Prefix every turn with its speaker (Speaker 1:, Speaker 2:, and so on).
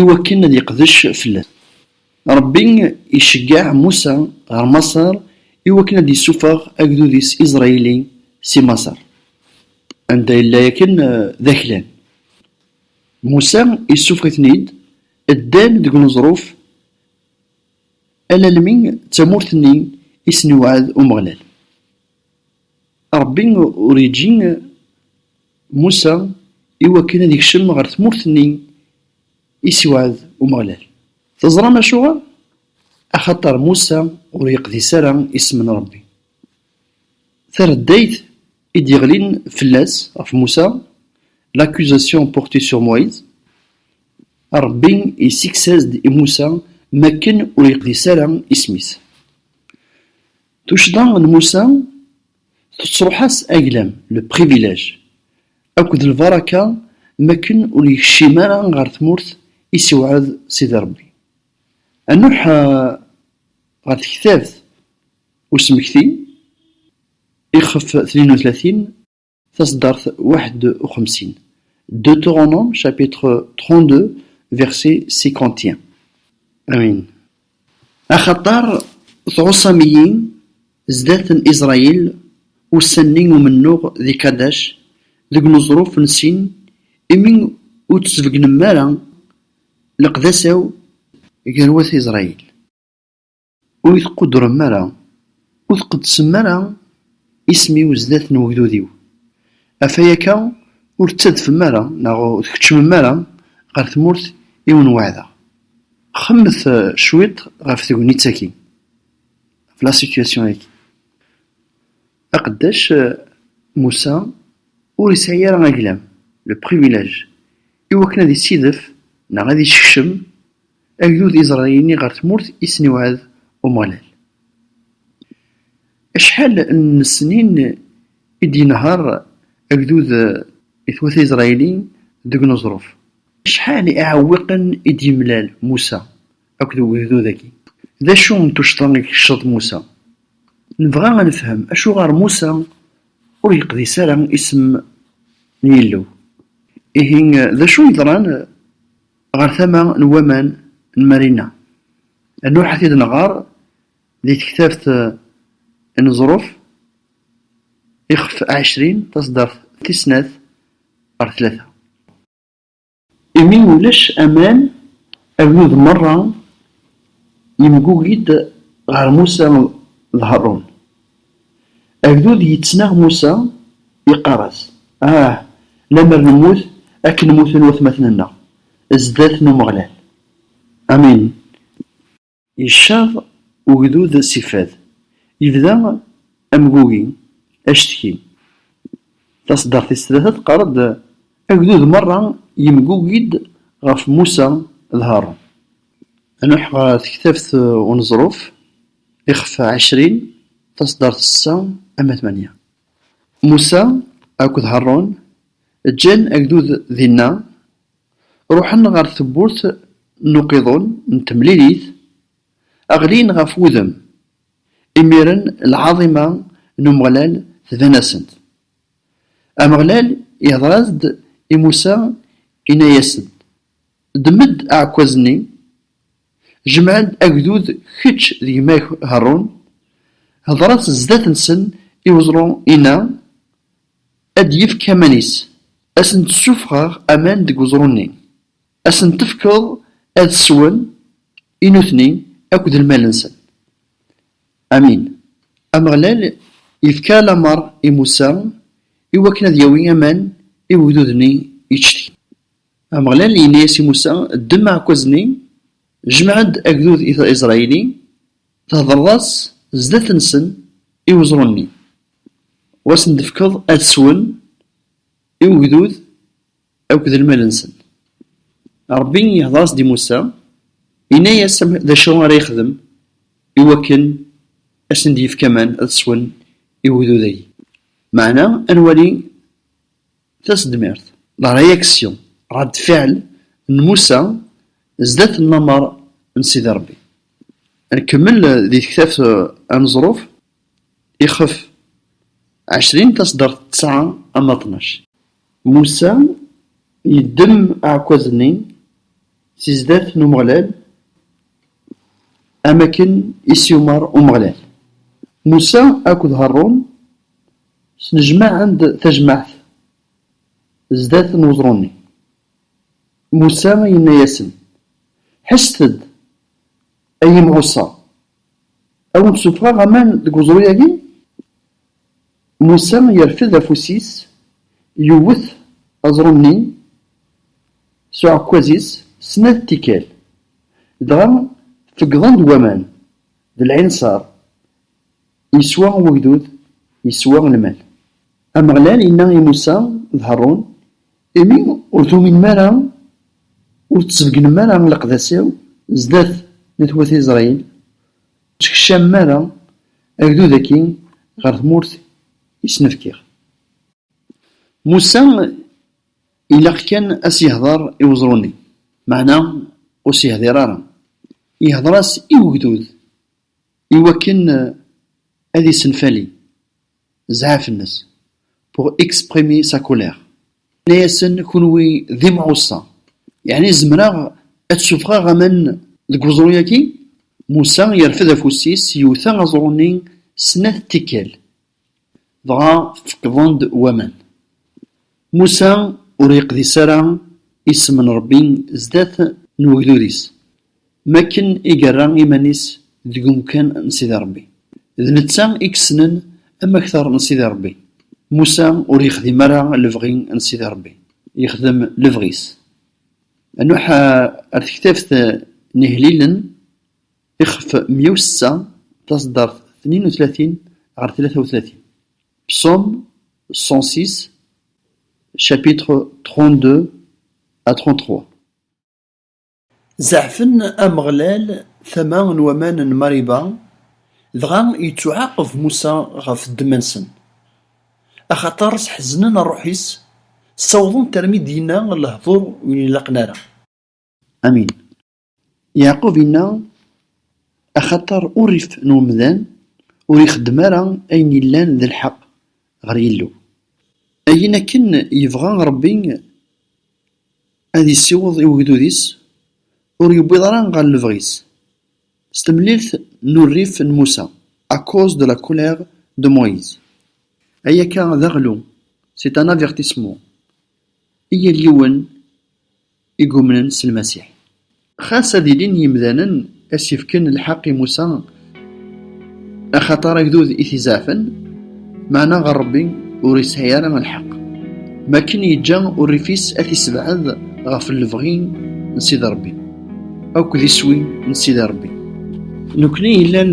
Speaker 1: Iwakken ad yeqdec fell-asen. Ṛebbi iceggeɛ Musa ɣer Maṣer iwakken ad d-yessufeɣ agdud-is Iẓrayili si Maṣer, anda yella yakan d aklan. Musa issufeɣ-iten-id, ddan deg uneẓruf alalmi d tamurt-nni i sen-iweɛɛed Umeɣlal. Ṛebbi ur yeǧǧi Musa i wakken ad ikcem ɣer tmurt-nni i as-iwɛed Umeɣlal. Teẓṛam acuɣer? Axaṭer Musa ur yeqdis ara isem n Ṛebbi. Tareddayt i d-yeɣlin fell-as, ɣef Musa, l'accusation portée sur Moïse, Ṛebbi yessikes-as-d i Musa makken ur yeqdis ara isem-is. Tuccḍa n Musa tettruḥ-as aglam, le privilège, akked lbaraka mi akken ur yekcim ara ɣer tmurt i s-iweɛɛed Sidi Rebbi. A Nuḥ ɣer tektabt usmekti, ixef tnin u tlatin. Taseddart waḥed u xemsin. Deutéronome chapitre 32 verset 51. Amin. Axaṭer tɛuṣam-iyi zdat n Israyil ussan-nni umennuɣ di Kadac, deg uneẓruf n Sin, imi ur d-tesbeggnem ara leqdasa-w gar wat Israyil. Ur yi-tquddrem ara, ur tqeddesem ara isem-iw zdat n wegdud-iw, ɣef wayaka ur tettadfem ara neɣ ur tkeččmem ara ɣer tmurt i wen-weɛdeɣ. Xemmemet cwiṭ ɣef tegnit-agi, ɣef la situation-agi. Aqeddac Musa ur yesɛi ara aglam, le privilège, i wakken ad yessidef neɣ ad yeskcem, Agdud iẓra ini ɣer tmurt i sen-iwɛed Umeɣlal. Acḥal n snin i d-yenher agdud i twata Isṛayil deg uneẓruf? Acḥal n iɛewwiqen i d-yemlal Musa akked wegdud-agi? D acu n tuccḍa i yekceḍ Musa? Nebɣa ad nefhem acuɣer Musa ur yeqdis ara isem n Yillu. Ihi, d acu yeḍran Ɣer tama n waman n Marina Nuḥ ad t-id-nɣer di tektabt n Ẓruf, ixef ɛecrin, taṣeddart tis snat ɣer tlata. Imi ulac aman, agdud merra yemgugi-d ɣer Musa d Harun. Agdud yettnaɣ Musa, yeqqar-as, Ah! Lemmer nemmut akken mmuten watmaten-nneɣ zdat n Umeɣlal! Amin! Yecceḍ ugdud si fad, yebda amgugi, acetki. Taṣeddart tis tlata teqqar-d, Agdud merra yemgugi-d ɣef Musa d Haṛun. Nuḥ ɣer tektabt uneẓruf, Ixef ɛecrin, taṣeddart sessa, ama tmanya. Musa akked Harun ǧǧan agdud dinna, ruḥen ɣer tewwurt n uqiḍun n temlilit, ɣlin ɣef wudem. Imiren lɛaḍima n Umeɣlal tban-asent. Ameɣlal ihder-as-d i Musa, inna-yas-d, Ddem-d aɛekkaz-nni, Jmeɛ-d agdud kečč d gma-k Haṛun, hedṛet zdat-nsen i weẓru inna, ad d-yefk aman-is, ad asen-d-ssufɣeɣ aman deg weẓru-nni, ad asen-tefkeḍ ad swen, i nutni akk d lmal-nsen. Amin. Ameɣlal yefka lameṛ i Musa i wakken ad yawi aman i wegdud-nni yettcetkin. Ameɣlal yenna-yas i Musa, Ddem aɛekkaz-nni, jmeɛ-d agdud i Isṛayil-i, thedreḍ-as zdat-nsen i weẓru-nni, u asen-d-tefkeḍ ad swen i ugdud akk d lmal-nsen. Ṛebbi ihdeṛ-as-d i Musa, yenna-yas d acu ara yexdem i wakken ad sen-d-yefk aman ad swen i ugdud-agi. Meɛna ad nwali Tasedmirt, la réaction, rad fiɛel, n Musa zdat n lameṛ n Sidi Ṛebbi. Nkemmel di tektabt aneẓruf ixef ɛecrin taseddaṛt tesɛa ama ṭnac. Musa yeddem aɛekkaz-nni si zdat n Umeɣlal am akken i s-yumeṛ Umeɣlal. Musa akked Harun. Snejmaɛen-d tajmaɛt zdat n weẓru-nni. Musa yenna-yasen, Ḥesset-d, ay imɣuṣa! Ad wen-d-ssuffɣeɣ aman deg weẓru-agi? Musa yerfed afus-is, yewwet aẓru-nni s uɛekkaz-is snat tikkal, dɣa feggḍen-d waman d lɛinṣer Iswa wegdud, iswa lmal. Ameɣlal yenna i Musa d Harun, Imi ur tuminem ara, ur ttbeggnem ara leqdasiw zdat n at wat Isṛayil, ur ttkecamem ara agdud-agi ɣer tmurt i sen-fkiɣ. Musa ilaq kan a s-yehder i weẓru-nni, meɛna ur s-yehdir ara, yehder-as i wegdud. Iwakken ad isenfali zɛaf-nnes, pour exprimer sa colère, yenna-asen, Kenwi d imɛuṣa, yeɛni zemreɣ ad d-ssufɣeɣ aman deg weẓru-agi? Musa yerfed afus-is, yewta aẓru-nni snat tikkal. Dɣa feqqḍen-d waman. Musa ur yeqdis ara isem n Ṛebbi zdat n ugdud-is, m akken i yerra iman-is deg umkan n Sidi Ṛebbi. D netta i yessnen amakter n Sidi Ṛebbi. Musa ur yexdim ara lebɣi n Sidi Ṛebbi, yexdem lebɣi-s. Inuḥ ar tektabt n ihellilen. Ixef mya u setta, taseddart tnin u tlatin ɣer tlata u tlatin. Psaumes cent six, chapitres trente-deux à trente-trois. Zeɛfen Ameɣlal tama n waman n Mariba, dɣa ittuɛaqeb Musa ɣef ddemma-nsen. Axaṭer sḥeznen rruḥ-is, ssawḍen-t armi d-yenna lehdur ur ilaqen ara. Amin. Yeɛqub inna, Axaṭer urrif n umdan ur ixeddem ara ayen yellan d lḥeqq ɣer Yillu. Ayen akken yebɣa Ṛebbi ad yessiweḍ i ugdud-is, ur yewwiḍ ara ɣer lebɣi-s. S temlilt n urrif n Musa, à cause de la colère de Moïse. Ay akka d aɣlu, c'est un avertissement. I yal yiwen. i yumnen s Lmasiḥ. Xas ad ilin yimdanen a s-ifken lḥeqq i Musa axaṭer agdud i t-izeɛfen, meɛna ɣer Ṛebbi ur isɛi ara lḥeqq, mi akken yeǧǧa urrif-is a t-isebɛed ɣef lebɣi n Sidi Ṛebbi akked iswi n Sidi Ṛebbi. Nekkni yellan